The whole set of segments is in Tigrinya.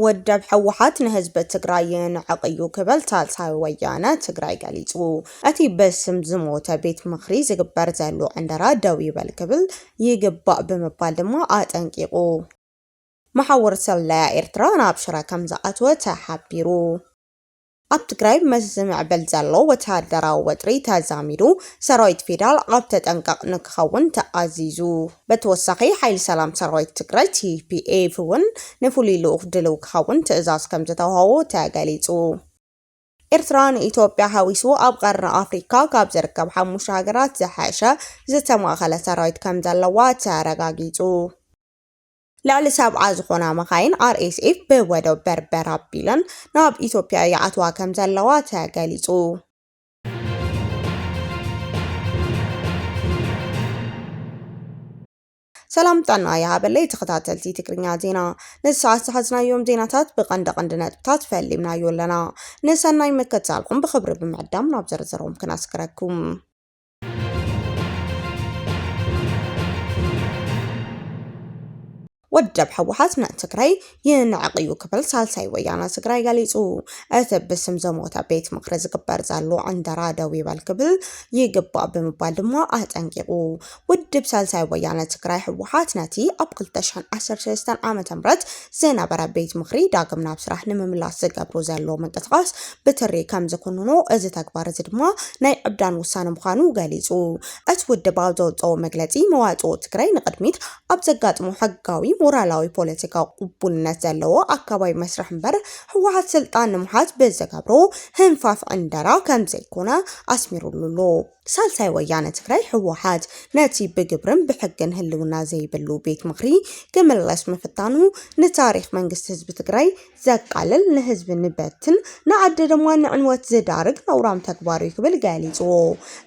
ውድብ ህወሓት ንህዝቢ ትግራይ የንዕቕ እዩ ክብል ሳልሳይ ወያነ ትግራይ ገሊጹ። እቲ በስም ዝሞተ ቤት ምኽሪ ዝግበር ዘሎ ዕንደራ ደው ይበል ክብል ይግባእ ብምባል ድማ ኣጠንቂቑ። መሓውር ስለያ ኤርትራ ናብ ሽረ ከም ዝኣተወ ተሓቢሩ። ኣብ ትግራይ ምስ ዝምዕብል ዘሎ ወተሃደራዊ ወጥሪ ተዛሚዱ ሰራዊት ፌዴራል ኣብ ተጠንቀቕ ንክኸውን ተኣዚዙ። በተወሳኺ ሓይሊ ሰላም ሰራዊት ትግራይ፣ TPF፣ እውን ንፍሉይ ልኡኽ ድልው ክኸውን ትእዛዝ ከምዝተውሃቦ ተገሊፁ። ኤርትራ ንኢትዮጵያ ሓዊሱ ኣብ ቐርኒ ኣፍሪካ ካብ ዝርከብ ሓሙሽተ ሃገራት ዝሐሸ ዝተማእኸለ ሰራዊት ከምዘለዋ ተረጋጊፁ። ልዕሊ ሰብዓ ዝኾና መኻይን RSF ብወደብ በርበር ኣቢለን ናብ ኢትዮጵያ ይኣትዋ ከምዘለዋ ተገሊፁ። ሰላም ጥዕና ይሃበለይ ተኸታተልቲ ትግርኛ ዜና ንሰዓት ዝሓዝናዮም ዜናታት ብቐንዲ ቀንዲ ነጥብታት ፈሊምናዮ ኣለና ንሰናይ ምክትታልኩም ብኽብሪ ብምዕዳም ናብ ዝርዝሮም ክነስክረኩም ወደብ ህወሓት ንትግራይ ይንዕቕ እዩ ክብል ሳልሳይ ወያነ ትግራይ ገሊጹ። እቲ ብስም ዘሞተ ቤት ምኽሪ ዝግበር ዘሎ ዕንደራ ደው ይበል ክብል ይግባእ ብምባል ድማ ኣጠንቂቑ። ውድብ ሳልሳይ ወያነ ትግራይ ህወሓት ነቲ ኣብ 2013 ዓ ም ዝነበረ ቤት ምኽሪ ዳግም ናብ ስራሕ ንምምላስ ዝገብሩ ዘለዉ ምንቅስቓስ ብትሪ ከም ዝኹንኖ እዚ ተግባር እዚ ድማ ናይ ዕብዳን ውሳነ ምዃኑ ገሊጹ። እቲ ውድብ ኣብ ዘውጽኦ መግለጺ መዋጽኦ ትግራይ ንቕድሚት ኣብ ዘጋጥሞ ሕጋዊ፣ ሞራላዊ፣ ፖለቲካዊ ቅቡልነት ዘለዎ ኣካባቢ መስርሕ እምበር ህወሓት ስልጣን ንምሓዝ ብዝገብሮ ህንፋፍ ዕንደራ ከም ዘይኮነ ኣስሚሩሉ ኣሎ። ሳልሳይ ወያነ ትግራይ፣ ህወሓት፣ ነቲ ብግብርን ብሕግን ህልውና ዘይብሉ ቤት ምኽሪ ክምለስ ምፍታኑ ንታሪኽ መንግስቲ ህዝቢ ትግራይ ዘቃልል፣ ንህዝቢ ንበትን ንዓዲ ድማ ንዕንወት ዝዳርግ ነውራም ተግባር'ዩ ክብል ገሊጹዎ።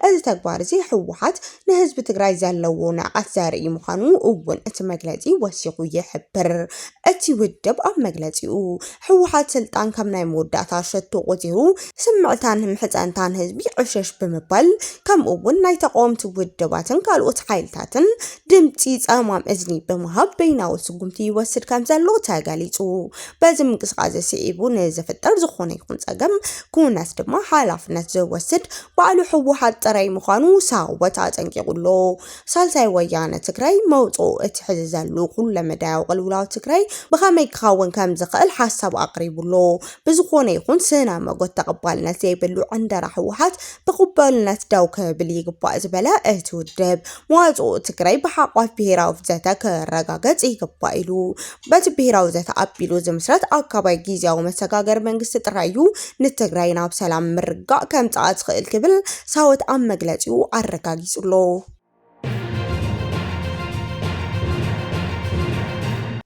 እዚ ተግባር'ዚ ህወሓት ንህዝቢ ትግራይ ዘለዎ ንዕቀት ዘርኢ ምዃኑ እውን እቲ መግለጺ ወሲኹ ይሕብር። እቲ ውድብ ኣብ መግለጺኡ፣ ህወሓት ስልጣን ከም ናይ መወዳእታ ሸቶ ቆፂሩ ስምዕታን ምሕፀንታን ህዝቢ ዕሸሽ ብምባል ከምኡ እውን ናይ ተቓወምቲ ውድባትን ካልኦት ሓይልታትን ድምፂ ፀማም እዝኒ ብምሃብ በይናዊ ስጉምቲ ይወስድ ከም ዘሎ ተገሊፁ። በዚ ምንቅስቓስ ስዒቡ ንዝፍጠር ዝኾነ ይኹን ፀገም ኩነት ድማ ሓላፍነት ዝወስድ ባዕሉ ህወሓት ጥራይ ምዃኑ ሳወት ኣጠንቂቑ ኣሎ። ሳልሳይ ወያነ ትግራይ መውጽኡ እቲ ሕዚ ዘሉ ኩለመዳያዊ ቅልውላው ትግራይ ብኸመይ ክኸውን ከም ዝኽእል ሓሳብ ኣቕሪቡ'ሎ። ብዝኾነ ይኹን ስነ መጎት ተቐባልነት ዘይብሉ ዕንደራ ህወሓት ብቕበሉነት ደው ክብል ይግባእ ዝበለ እቲ ውድብ፣ መዋጽኦ ትግራይ ብሓቋፍ ብሄራዊ ዘተ ክረጋገጽ ይግባእ ኢሉ። በቲ ብሄራዊ ዘተ ኣቢሉ ዝምስረት ኣካባይ ጊዚያዊ መሰጋገሪ መንግስቲ ጥራይ እዩ ንትግራይ ናብ ሰላም ምርግጋእ ከምጽኣ ዝኽእል ክብል ሳወት ኣብ መግለጺኡ ኣረጋጊጹ ኣሎ።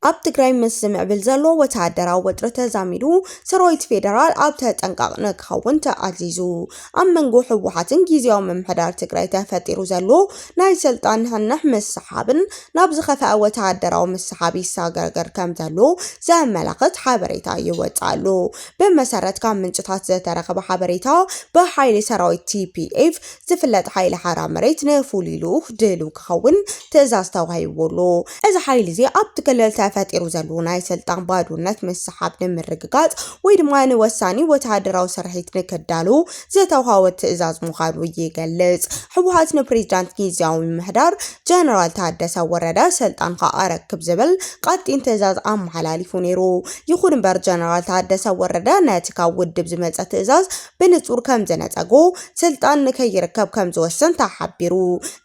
ኣብ ትግራይ ምስ ዝምዕብል ዘሎ ወተሃደራዊ ወጥሪ ተዛሚዱ ሰራዊት ፌደራል ኣብ ተጠንቃቕ ንክኸውን ተኣዚዙ። ኣብ መንጎ ህወሓትን ጊዚያዊ ምምሕዳር ትግራይ ተፈጢሩ ዘሎ ናይ ስልጣን ንሕንሕ ምስሓብን ናብ ዝኸፈኣ ወተሃደራዊ ምስሓብ ይሰጋገር ከምዘሎ ዘመላኽት ሓበሬታ ይወጽእ ኣሎ። ብመሰረት ካብ ምንጭታት ዝተረኸበ ሓበሬታ ብሓይሊ ሰራዊት TPF ዝፍለጥ ሓይሊ ሓራ መሬት ንፍሉይ ልኡኽ ድልው ክኸውን ትእዛዝ ተዋሂብዎ ኣሎ። እዚ ሓይሊ'ዚ ኣብቲ ክልል ተፈጢሩ ዘሉ ናይ ስልጣን ባዶነት ምስሓብ ንምርግጋጽ ወይ ድማ ንወሳኒ ወተሃደራዊ ስርሒት ንክዳሉ ዝተውሃቦ ትእዛዝ ምዃኑ ይገልጽ። ህወሓት ንፕሬዚዳንት ጊዚያዊ ምምሕዳር ጀነራል ታደሰ ወረደ ስልጣንካ ኣረክብ ዝብል ቀጢን ትእዛዝ ኣመሓላሊፉ ነይሩ። ይኹን እምበር ጀነራል ታደሰ ወረደ ነቲ ካብ ውድብ ዝመጸ ትእዛዝ ብንጹር ከም ዝነጸጎ፣ ስልጣን ንከይርከብ ከም ዝወሰን ተሓቢሩ።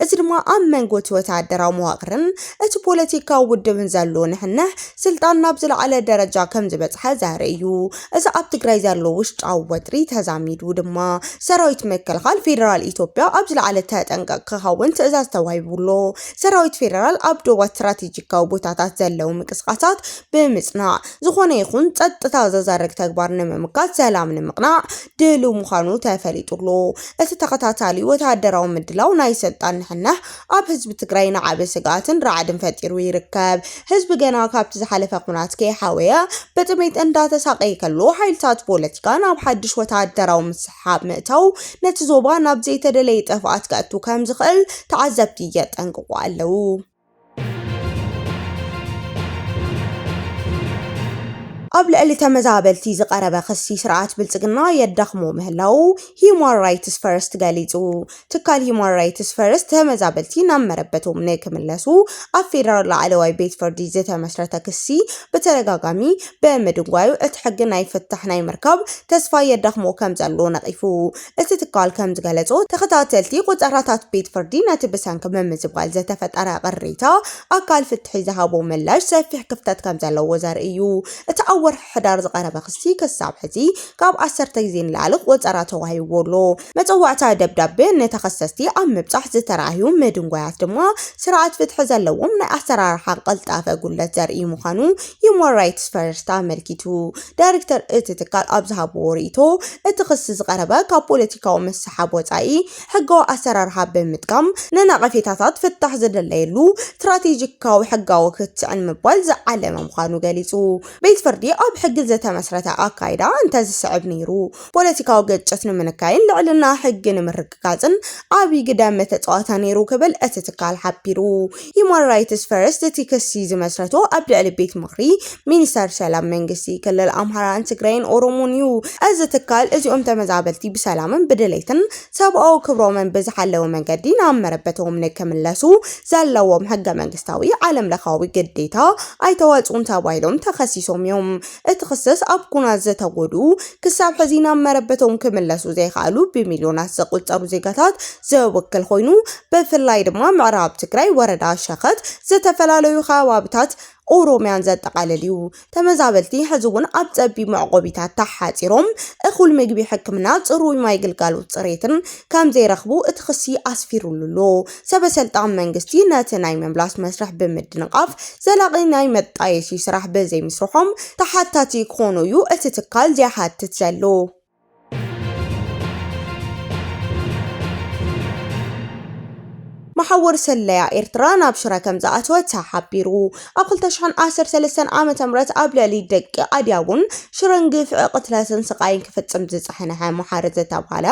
እዚ ድማ ኣብ መንጎ እቲ ወተሃደራዊ መዋቕርን እቲ ፖለቲካዊ ውድብን ዘሎ ንሕንሕ ስልጣን ናብ ዝለዓለ ደረጃ ከም ዝበጽሐ ዘርኢ እዩ። እዚ ኣብ ትግራይ ዘሎ ውሽጣዊ ወጥሪ ተዛሚዱ ድማ ሰራዊት ምክልኻል ፌደራል ኢትዮጵያ ኣብ ዝለዓለ ተጠንቀቕ ክኸውን ትእዛዝ ተዋሂቡ ኣሎ። ሰራዊት ፌደራል ኣብ ዶባት ስትራቴጂካዊ ቦታታት ዘለዉ ምንቅስቓሳት ብምጽናዕ፣ ዝኾነ ይኹን ጸጥታ ዘዛርግ ተግባር ንምምካት ሰላም ንምቕናዕ ድሉው ምዃኑ ተፈሊጡ ኣሎ። እቲ ተኸታታሊ ወተሃደራዊ ምድላው ናይ ስልጣን ንሕንሕ ኣብ ህዝቢ ትግራይ ንዓቢ ስግኣትን ራዕድን ፈጢሩ ይርከብ። ህዝቢ ገና ካብቲ ዝሓለፈ ኵናት ከይሓወየ ብጥሜት እንዳተሳቐየ ከሎ ሓይልታት ፖለቲካ ናብ ሓድሽ ወተሃደራዊ ምስሕሓብ ምእታው ነቲ ዞባ ናብ ዘይተደለየ ጥፍኣት ከእቱ ከምዝኽእል ተዓዘብቲ የጠንቅቑ ኣለዉ። ኣብ ልዕሊ ተመዛበልቲ ዝቐረበ ክሲ ስርዓት ብልፅግና የዳኽሞ ምህላዉ ሂዩማን ራይትስ ፈርስት ገሊፁ። ትካል ሂዩማን ራይትስ ፈርስት ተመዛበልቲ ናብ መረበቶም ንክምለሱ ኣብ ፌደራል ላዕለዋይ ቤት ፍርዲ ዝተመስረተ ክሲ ብተደጋጋሚ ብምድንጓዩ እቲ ሕጊ ናይ ፍታሕ ናይ ምርካብ ተስፋ የዳኽሞ ከምዘሎ ነቒፉ። እቲ ትካል ከም ዝገለጾ፣ ተኸታተልቲ ቆጸራታት ቤት ፍርዲ ነቲ ብሰንኪ ምምዝባል ዝተፈጠረ ቅሬታ ኣካል ፍትሒ ዝሃቦ ምላሽ ሰፊሕ ክፍተት ከም ዘለዎ ዘርኢ እዩ። እቲ ኣብ ወርሒ ሕዳር ዝቐረበ ክሲ ክሳብ ሕዚ ካብ ዓሰርተ ግዜ ንላዕሊ ቆጸራ ተዋሂብዎ ኣሎ። መጸዋዕታ ደብዳበ ንተኸሰስቲ ኣብ ምብጻሕ ዝተራእዩ ምድንጓያት ድማ ስርዓት ፍትሒ ዘለዎም ናይ ኣሰራርሓ ቅልጣፈ ጉድለት ዘርኢ ምዃኑ ሂዩማን ራይትስ ፈርስት ኣመልኪቱ። ዳይሬክተር እቲ ትካል ኣብ ዝሃብዎ ርእይቶ፣ እቲ ክሲ ዝቐረበ ካብ ፖለቲካዊ ምስሕሓብ ወጻኢ ሕጋዊ ኣሰራርሓ ብምጥቃም ንነቐፌታታት ፍታሕ ዝድለየሉ ስትራቴጂካዊ ሕጋዊ ክትዕ ንምባል ዝዓለመ ምዃኑ ገሊጹ። ቤት ፍርዲ ኣብ ሕጊ ዝተመስረተ ኣካይዳ እንተዝስዕብ ነይሩ፣ ፖለቲካዊ ግጭት ንምንካይን ልዕልና ሕጊ ንምርግጋጽን፣ ንምርግጋጽን ዓቢ ግደ ምተጻወተ ነይሩ ክብል እቲ ትካል ሓቢሩ። ሂዩማን ራይትስ ፈርስት እቲ ክሲ ዝመስረቶ ኣብ ልዕሊ ቤት ምኽሪ ሚኒስተር ሰላም መንግስቲ ክልል ኣምሃራን ትግራይን ኦሮሞን እዩ። እዚ ትካል እዚኦም ተመዛበልቲ ብሰላምን ብድሌትን ሰብኣዊ ክብሮምን ብዝሓለወ መንገዲ ናብ መረበቶም ንክምለሱ ዘለዎም ሕገ መንግስታዊ ዓለም ለኻዊ ግዴታ ኣይተወጽኡን ተባሂሎም ተኸሲሶም እዮም። እቲ ክሰስ ኣብ ኩናት ዝተጎድኡ ክሳብ ሕዚ ናብ መረበቶም ክምለሱ ዘይኸኣሉ ብሚልዮናት ዘቑፀሩ ዜጋታት ዝውክል ኾይኑ ብፍላይ ድማ ምዕራብ ትግራይ ወረዳ ሸኸት ዝተፈላለዩ ኸባብታት ኦሮሚያን ዘጠቓልል እዩ። ተመዛበልቲ ሕዚ እውን ኣብ ፀቢብ መዕቆቢታት ተሓፂሮም እኹል ምግቢ፣ ሕክምና፣ ፅሩይ ማይ ግልጋሎት ፅሬትን ከምዘይረኽቡ እቲ ክሲ ኣስፊሩሉ ኣሎ። ሰበ-ሰልጣን መንግስቲ ነቲ ናይ ምምላስ መስርሕ ብምድንቓፍ ዘላቒ ናይ መጣየሲ ስራሕ ብዘይምስርሖም ተሓታቲ ክኾኑ እዩ እቲ ትካል ዝይሓትት ዘሎ። መሓውር ስለያ ኤርትራ ናብ ሽረ ከምዝኣተወ ተሓቢሩ። ኣብ ክልተ ሽሕን ዓሰርተ ሰለስተን ዓመተ ምህረት ኣብ ልዕሊ ደቂ ኣድያቦን ሽረን ግፍዒ ቅትለትን ስቓይን ክፍጽም ዝጸሐንሐ መሓሪ ዝተብሃለ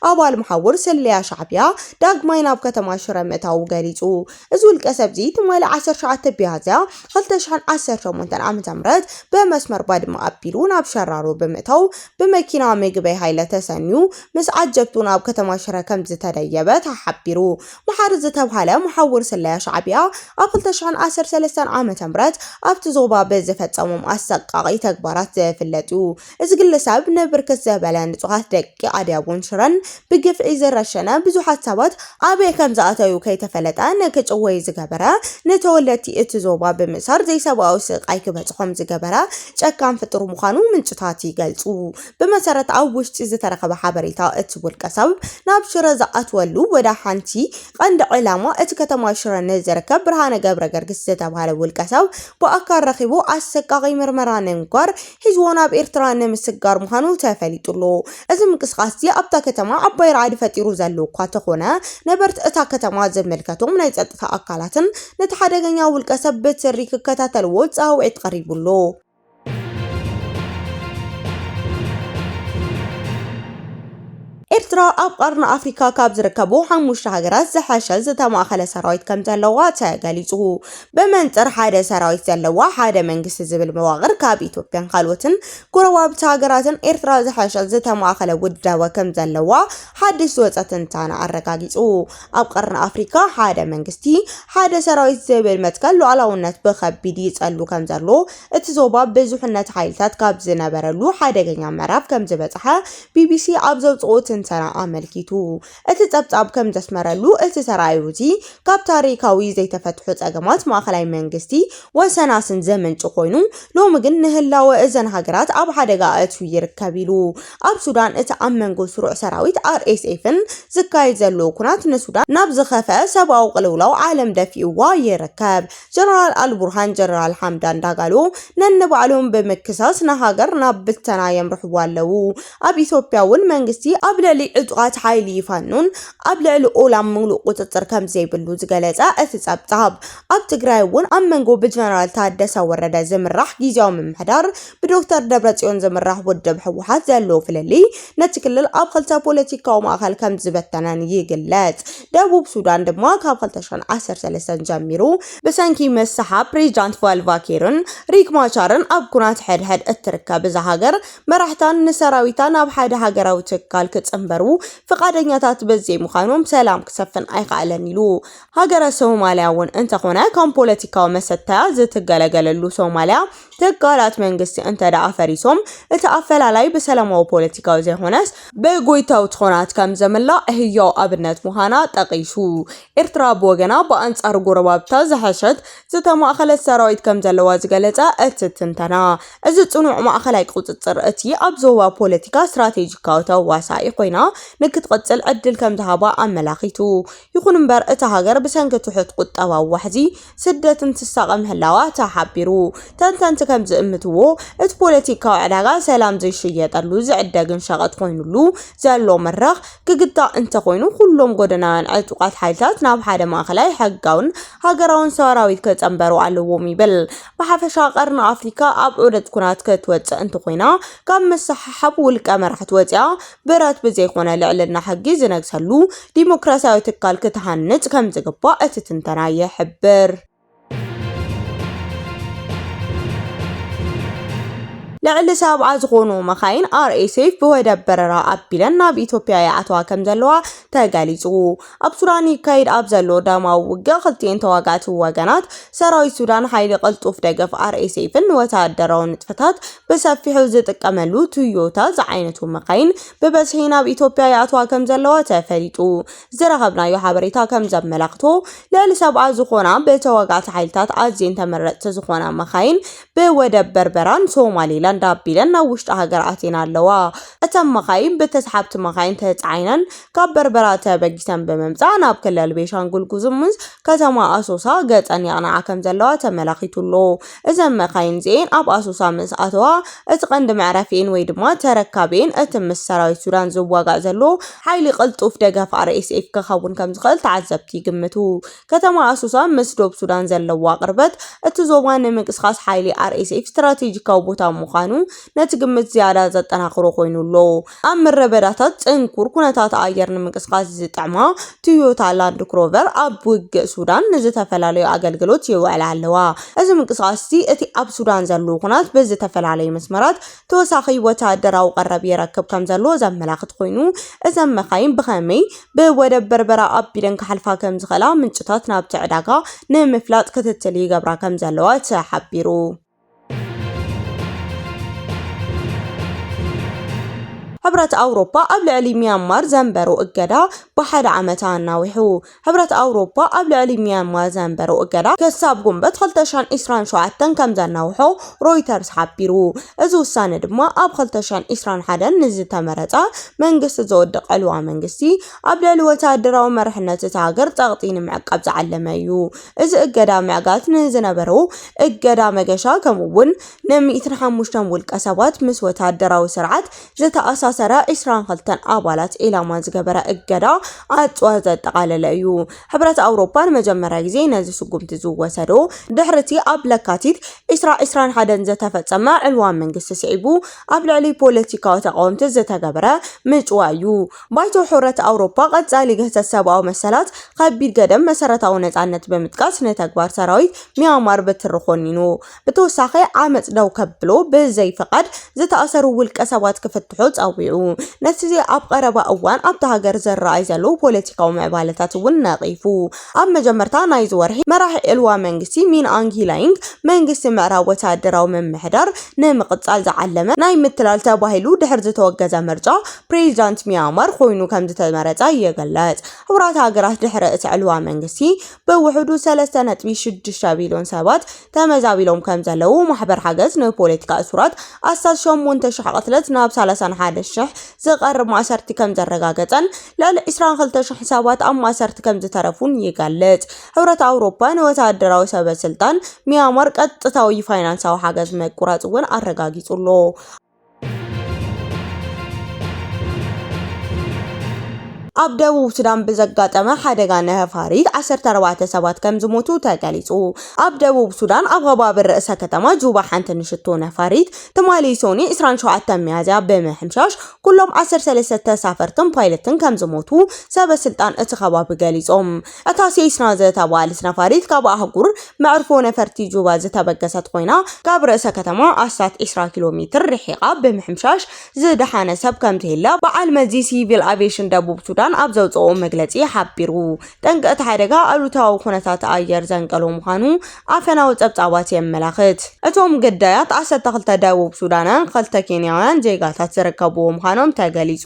ኣባል መሓውር ስለያ ሻዕቢያ ዳግማይ ናብ ከተማ ሽረ ምእታዉ ገሊጹ። እዚ ውልቀሰብ'ዚ ትማሊ ዓሰርተ ትሽዓተ ቢያዝያ ክልተ ሽሕን ዓሰርተ ሸሞንተን ዓመተ ምህረት ብመስመር ባድመ ኣቢሉ ናብ ሸራሮ ብምእታው ብመኪና ምግበይ ሃይለ ተሰንዩ ምስ ዓጀብቱ ናብ ከተማ ሽረ ከምዝተደየበ ተሓቢሩ። መሓሪ ዝተብሃለ መሓውር ስለያ ሻዕቢያ ኣብ ክልተ ሽሕን ዓሰርተ ሰለስተን ዓመተ ምህረት ኣብቲ ዞባ ብዝፈጸሞም ኣሰቃቒ ተግባራት ዝፍለጥ'ዩ። እዚ ግለሰብ ንብርክት ዘበለ ንፁሃት ደቂ ኣድያቦን ሽረን ብግፍዒ ዝረሸነ፣ ብዙሓት ሰባት ኣበይ ከምዝኣተዩ ከይተፈለጠ ንክጭወዩ ዝገበረ፣ ንተወለድቲ እቲ ዞባ ብምእሳር ዘይሰብኣዊ ስቓይ ክበፅሖም ዝገበረ ጨካን ፍጡር ምዃኑ ምንጭታት ይገልፁ። ብመሰረት ኣብ ውሽጢ ዝተረኸበ ሓበሬታ እቲ ውልቀሰብ ናብ ሽረ ዝኣትወሉ ወደ ሓንቲ ቐንዲ ዕላማ እቲ ከተማ ሽረ ንዝርከብ ብርሃነ ገብረገርግስ ዝተብሃለ ውልቀሰብ ብኣካል ረኺቡ ኣሰቃቒ ምርመራ ንምግባር ሒዝዎ ናብ ኤርትራ ንምስግጋር ምዃኑ ተፈሊጡ'ሎ። እዚ ምንቅስቓስ'ዚ ኣብታ ከተማ ዓባይ ራዕዲ ፈጢሩ ዘሎ እኳ ተኾነ፣ ነበርቲ እታ ከተማ ዝምልከቶም ናይ ጸጥታ ኣካላትን ነቲ ሓደገኛ ውልቀሰብ ብትሪ ክከታተልዎ ጻውዒት ቀሪቡ ኣሎ። ኤርትራ ኣብ ቐርኒ ኣፍሪካ ካብ ዝርከቡ ሓሙሽተ ሃገራት ዝሐሸ ዝተማእኸለ ሰራዊት ከምዘለዋ ተገሊፁ። ብመንፅር ሓደ ሰራዊት ዘለዋ ሓደ መንግስቲ ዝብል መዋቕር ካብ ኢትዮጵያን ካልኦትን ጎረባብቲ ሃገራትን ኤርትራ ዝሐሸ ዝተማእኸለ ውዳበ ከምዘለዋ ሓድሽ ዝወፀ ትንታነ ኣረጋጊፁ። ኣብ ቐርኒ ኣፍሪካ ሓደ መንግስቲ ሓደ ሰራዊት ዝብል መትከል ሉኣላውነት ብኸቢድ ይፀሉ ከምዘሎ እቲ ዞባ ብዙሕነት ሓይልታት ካብ ዝነበረሉ ሓደገኛ ምዕራፍ ከምዝበፅሐ ቢቢሲ ኣብ ዘውጽኦ ትንተና ኣመልኪቱ። እቲ ጸብጻብ ከም ዘስመረሉ፣ እቲ ተራእዮ እዚ ካብ ታሪኻዊ ዘይተፈትሑ ጸገማት ማእከላይ መንግስቲ ወሰናስን ዝምንጩ ኮይኑ፣ ሎሚ ግን ንህላወ እዘን ሃገራት ኣብ ሓደጋ ኣእትዩ ይርከብ ኢሉ። ኣብ ሱዳን እቲ ኣብ መንጎ ስሩዕ ሰራዊት ኣርኤስኤፍን ዝካየድ ዘሎ ኵናት ንሱዳን ናብ ዝኸፍኣ ሰብኣዊ ቅልውላው ዓለም ደፊእዋ ይርከብ። ጀነራል ኣልቡርሃን ጀነራል ሓምዳን ዳጋሎ ነንባዕሎም ብምክሳስ ንሃገር ናብ ብተና የምርሕዋ ኣለዉ። ኣብ ኢትዮጵያ እውን መንግስቲ ኣብ ልዕሊ ዕጡቓት ሓይሊ ፋኖን ኣብ ልዕሊ ኦላን ምሉእ ቁፅፅር ከምዘይብሉ ዝገለፀ እቲ ፀብፃብ፣ ኣብ ትግራይ እውን ኣብ መንጎ ብጀነራል ታደሰ ወረደ ዝምራሕ ጊዚያዊ ምምሕዳር ብዶክተር ደብረፅዮን ዝምራሕ ውድብ ህወሓት ዘሎ ፍልልይ ነቲ ክልል ኣብ ክልተ ፖለቲካዊ ማእኸል ከምዝበተነን ይግለፅ። ደቡብ ሱዳን ድማ ካብ 2013 ጀሚሩ ብሰንኪ ምስሓብ ፕሬዚዳንት ቫልቫኪርን ሪክ ማቻርን ኣብ ኩናት ሕድሕድ እትርከብ እዛ ሃገር መራሕታን ንሰራዊታ ናብ ሓደ ሃገራዊ ትካል ክፅምበሩ ፍቃደኛታት በዘይምዃኖም ሰላም ክሰፍን ኣይከኣለን ኢሉ። ሃገረ ሶማሊያ እውን እንተኾነ ከም ፖለቲካዊ መሰተያ ዝትገለገለሉ ሶማሊያ ትካላት መንግስቲ እንተደኣ ፈሪሶም እቲ ኣፈላላይ ብሰላማዊ ፖለቲካዊ ዘይኾነስ ብጎይታዊ ትኾናት ከምዘምላእ ህያው ኣብነት ምዃና ጠቒሱ። ኤርትራ ብወገና ብኣንጻር ጎረባብታ ዝሐሸት ዝተማእኸለት ሰራዊት ከምዘለዋ ዝገለጸ እቲ ትንተና፣ እዚ ጽኑዕ ማእኸላይ ቁጽጽር እቲ ኣብ ዞባ ፖለቲካ ስትራቴጂካዊ ተዋሳኢ ኮይና ንክትቕጽል ዕድል ከምዝሃባ ኣመላኺቱ። ይኹን'ምበር እታ ሃገር ብሰንኪ ትሑት ቁጠባዊ ዋሕዚ ስደትን ትሳቐ ምህላዋ ተሓቢሩ። ተንተንቲ ከም ዝእምትዎ እቲ ፖለቲካዊ ዕዳጋ ሰላም ዘይሽየጠሉ ዝዕደግን ሸቐጥ ኮይኑሉ ዘሎ መድረኽ ክግታእ እንተኾይኑ ኩሎም ጎደናውያን ዕጡቓት ሓይልታት ናብ ሓደ ማእከላይ ሕጋውን ሃገራውን ሰራዊት ክጸንበሩ ኣለዎም ይብል። ብሓፈሻ ቀርኒ ኣፍሪካ ኣብ ዑደት ኩናት ክትወጽእ እንተኾይና ካብ ምስሓሓብ ውልቀ መራሕቲ ወጺኣ ብረት ብዘይኮነ ልዕልና ሕጊ ዝነግሰሉ ዲሞክራሲያዊ ትካል ክትሃንጽ ከምዝግባእ እቲ ትንተና ይሕብር። ልዕሊ ሰብዓ ዝኾኑ መኻይን RSF ብወደብ በረራ ኣቢለን ናብ ኢትዮጵያ ይኣትዋ ከምዘለዋ ተገሊጹ። ኣብ ሱዳን ይካየድ ኣብ ዘሎ ደማዊ ውግእ ክልቲኤን ተዋጋእቲ ወገናት ሰራዊት ሱዳን ሓይሊ ቅልጡፍ ደገፍ ኣርኤስኤፍን ንወተሃደራዊ ንጥፈታት ብሰፊሑ ዝጥቀመሉ ቶዮታ ዝዓይነቱ መካይን ብበዝሒ ናብ ኢትዮጵያ ይኣትዋ ከም ዘለዋ ተፈሊጡ። ዝረኸብናዮ ሓበሬታ ከም ዘመላኽቶ ልዕሊ ሰብኣ ዝኾና ብተዋጋእቲ ሓይልታት ኣዝየን ተመረፅቲ ዝኾና መካይን ብወደብ በርበራን ሶማሊላንድ ኣቢለን ናብ ውሽጢ ሃገር ኣትየን ኣለዋ። እተን መኻይን ብተስሓብቲ መኻይን ተጻዒነን ካብ በርበራ ተበጊሰን ብምምጻእ ናብ ክልል ቤንሻንጉል ጉሙዝ ከተማ ኣሶሳ ገጸን የቕንዓ ከምዘለዋ ተመላኺቱ ኣሎ። እዘን መኻይን እዚኤን ኣብ ኣሶሳ ምስ ኣተዋ እቲ ቀንዲ መዕረፊኤን ወይ ድማ ተረካቢኤን እቲ ምስ ሰራዊት ሱዳን ዝዋጋእ ዘሎ ሓይሊ ቅልጡፍ ደገፍ RSF ክኸውን ከምዝኽእል ተዓዘብቲ ይግምቱ። ከተማ ኣሶሳ ምስ ዶብ ሱዳን ዘለዋ ቅርበት፣ እቲ ዞባ ንምንቅስቓስ ሓይሊ RSF ስትራቴጂካዊ ቦታ ምዃኑ ነቲ ግምት ዝያዳ ዘጠናኽሮ ኮይኑ ኣሎ። ኣብ ምረበዳታት ጽንኩር ኩነታት ኣየር ንምንቅስቓስ ዝጥዕማ ቶዮታ ላንድ ክሮቨር ኣብ ውግእ ሱዳን ንዝተፈላለዩ ኣገልግሎት የውዕላ ኣለዋ። እዚ ምንቅስቓስ እዚ እቲ ኣብ ሱዳን ዘሎ ኩናት ብዝተፈላለዩ መስመራት ተወሳኺ ወተሃደራዊ ቀረብ የረክብ ከምዘሎ ዘመላኽት ኮይኑ፣ እዘን መካይን ብኸመይ ብወደብ በርበራ ኣቢለን ክሓልፋ ከምዝኽእላ ምንጭታት ናብቲ ዕዳጋ ንምፍላጥ ክትትል ይገብራ ከምዘለዋ ተሓቢሩ። ሕብረት ኣውሮፓ ኣብ ልዕሊ ሚያንማር ዘንበሮ እገዳ ብሓደ ዓመት ኣናዊሑ። ሕብረት ኣውሮፓ ኣብ ልዕሊ ሚያንማር ዘንበሮ እገዳ ክሳብ ጉንበት 2027 ከም ዘናውሖ ሮይተርስ ሓቢሩ። እዚ ውሳነ ድማ ኣብ 2021 ንዝተመረጸ መንግስቲ ዝወድቕ ዕልዋ መንግስቲ ኣብ ልዕሊ ወተሃደራዊ መርሕነት እታ ሃገር ጸቕጢ ንምዕቃብ ዝዓለመ እዩ። እዚ እገዳ ምዕጋት ንዝነበሮ እገዳ መገሻ ከምኡ'ውን ን105 ውልቀሰባት ምስ ወተሃደራዊ ስርዓት ዝተኣሳሰረ 22 ኣባላት ዒላማ ዝገበረ እገዳ ኣጽዋር ዘጠቓለለ እዩ። ሕብረት ኣውሮፓ ንመጀመርያ ግዜ ነዚ ስጉምቲ ዝወሰዶ ድሕሪቲ ኣብ ለካቲት ዕስራ ዕስራን ሓደን ዝተፈጸመ ዕልዋ መንግስቲ ስዒቡ ኣብ ልዕሊ ፖለቲካዊ ተቓወምቲ ዝተገበረ ምጭዋ እዩ። ባይቶ ሕረት ኣውሮፓ ቀጻሊ ግህሰት ሰብኣዊ መሰላት፣ ከቢድ ገደብ መሰረታዊ ነጻነት ብምጥቃስ ንተግባር ሰራዊት ሚያንማር ብትሪ ኮኒኑ። ብተወሳኺ ዓመጽ ደው ከብሉ ብዘይፍቓድ ዝተኣሰሩ ውልቀ ሰባት ክፍትሑ ጸዊዑ። ነቲ ኣብ ቐረባ እዋን ኣብታ ሃገር ዝረኣይ ዘሎ ፖለቲካዊ ምዕባለታት እውን ነቒፉ። ኣብ መጀመርታ ናይዚ ወርሒ፣ መራሒ ዕልዋ መንግስቲ ሚን ኣንግ ሂላይንግ፣ መንግስቲ ምዕራብ ወተሃደራዊ ምምሕዳር ንምቕጻል ዝዓለመ ናይ ምትላል ተባሂሉ ድሕሪ ዝተወገዘ ምርጫ፣ ፕሬዚዳንት ሚያንማር ኮይኑ ከምዝተመረጸ ይግለጽ። ሕቡራት ሃገራት ድሕሪ እቲ ዕልዋ መንግስቲ፣ ብውሕዱ ሰለስተ ነጥቢ ሽዱሽተ ቢልዮን ሰባት ተመዛቢሎም ከምዘለዉ ማሕበር ሓገዝ ንፖለቲካ እሱራት ኣስታት ሸሞንተ ሽሕ ቅትለት ናብ ሰላሳን ሓደን ሽሕ ዝቐርብ ማእሰርቲ ከምዘረጋገጸን ልዕሊ ዕስራን ክልተ ሽሕ ሰባት ኣብ ማእሰርቲ ከምዝተረፉን ይገልጽ። ሕብረት ኣውሮፓ ንወተሃደራዊ ሰበስልጣን ሚያንማር ቀጥታዊ ፋይናንሳዊ ሓገዝ ምቁራጽ እውን ኣረጋጊጹ ኣሎ። ኣብ ደቡብ ሱዳን ብዘጋጠመ ሓደጋ ነፋሪት 14 ሰባት ከም ዝሞቱ ተገሊጹ። ኣብ ደቡብ ሱዳን ኣብ ከባቢ ርእሰ ከተማ ጁባ ሓንቲ ንሽቶ ነፋሪት ትማሊ ሶኒ 27 ሚያዝያ ብምሕምሻሽ ኩሎም 13 ተሳፈርትን ፓይለትን ከም ዝሞቱ ሰበስልጣን እቲ ከባቢ ገሊጾም። እታ ሴስና ዝተባህለት ነፋሪት ካብ ኣህጉር መዕርፎ ነፈርቲ ጁባ ዝተበገሰት ኮይና፣ ካብ ርእሰ ከተማ ኣስታት ዕስራ ኪሎ ሜትር ርሒቓ ብምሕምሻሽ ዝደሓነ ሰብ ከምዘየለ በዓል መዚ ሲቪል ኣቪየሽን ደቡብ ሱዳን ኣብ ዘውጽኦ መግለጺ ሓቢሩ። ጠንቂ እቲ ሓደጋ ኣሉታዊ ኩነታት ኣየር ዘንቀሎ ምዃኑ ኣፈናዊ ጸብጻባት የመላኽት። እቶም ግዳያት ዓሰርተ ክልተ ደቡብ ሱዳናውያን ክልተ ኬንያውያን ዜጋታት ዝርከብዎም ምዃኖም ተገሊጹ።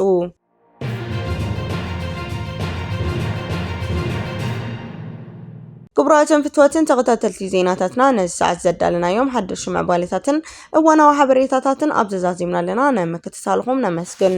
ክቡራትን ፍትወትን ተኸታተልቲ ዜናታትና ነዚ ሰዓት ዘዳለናዮም ሓደሽ ምዕባሌታትን እዋናዊ ሓበሬታታትን ኣብ ዘዛዚምና ኣለና ናይ ምክትታልኹም ነመስግን